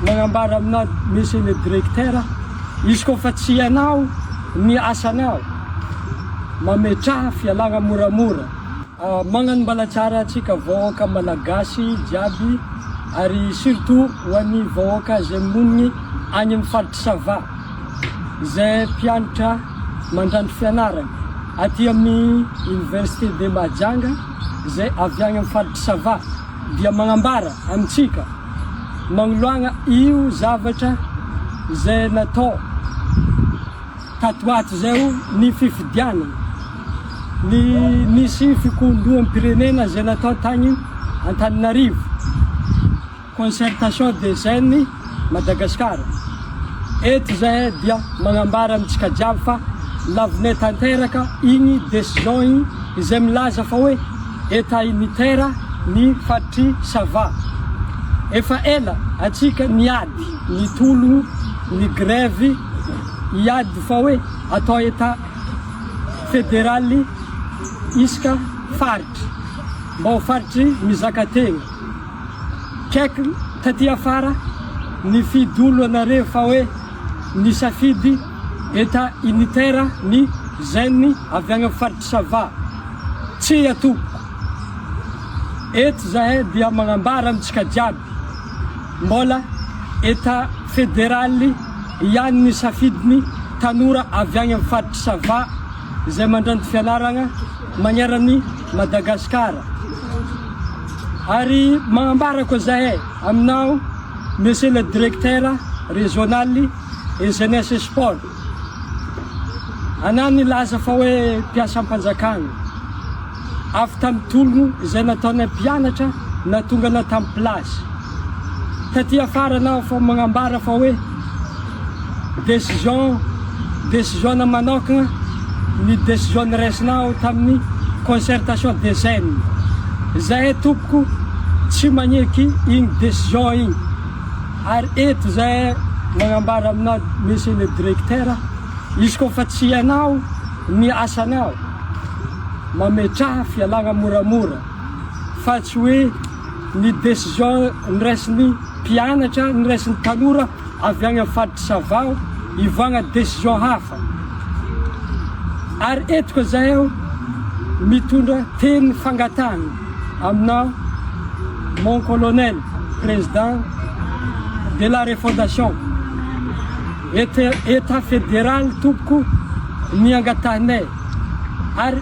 Magnambara aminao Monsieur le Directeur, izy koa fa tsy ianao ny asanao, mametraha fialagna moramora. Magnano mbalatsara antsika vahoaka Malagasy jiaby ary surtout ho an'ny vahoaka izay monigny agny amin'ny faritry Sava, izay mpianatra mandranto fianaragny aty amin'ny Université de Mahajanga. izay avy any amin'ny faritr'i Sava dia manambara amintsika magnoloagna io zavatra izay natao tato ho ato izay o, ny fifidianana, ny nisy fikohondoham-pirenena izay natao tagny Antananarivo. Concertation des Jeunes Madagascar eto izay dia magnambara amintsika jiaby fa lavonay tanteraka igny decision igny izay milaza fa hoe Etat unitaire ny faritry Sava. Efa ela atsika niady nitologno ny grevy hiady fa hoe atao Etat federaly isaka faritry mba ho faritry mizaka tegna. Check taty afara ny fidolo anareo fa hoe nisafidy eta unitaire ny zen avy agny am faritry sava. Tsia tompoko. Eto zahay dia magnambara amintsika jiaby mbola eta federaly ihany ny safidiny tanora avy agny am faritry sava izay mandranto fianaragna magnerany Madagasikara. Ary mahambarako zahay aminao Monsieur le Directeur Régional et Jeunesse et Sport. Anao nilaza fa hoe mpiasam-panjakana. Avy tamin'ny tolona izay nataonay mpianatra na tonga na tamin'ny place. Taty afara anao efa magnambara fa hoe décision décision-na manokana ny décision noraisinao tamin'ny concertation des jeunes. Izahay tompoko tsy magneky igny décision igny ary eto izahay magnambara aminao Monsieur le Directeur, izy koa fa tsy ianao ny asanao mametraha fialagna moramora fa tsy hoe ny décision noraisin'ny mpianatra, noraisin'ny tanora avy any amin'ny faritry Savaho hivoagna décision hafa. Ary eto koa zahay mitondra teny fangatahana aminao mon colonel président de la refondation état fédéral tompoko ny angatahinay ary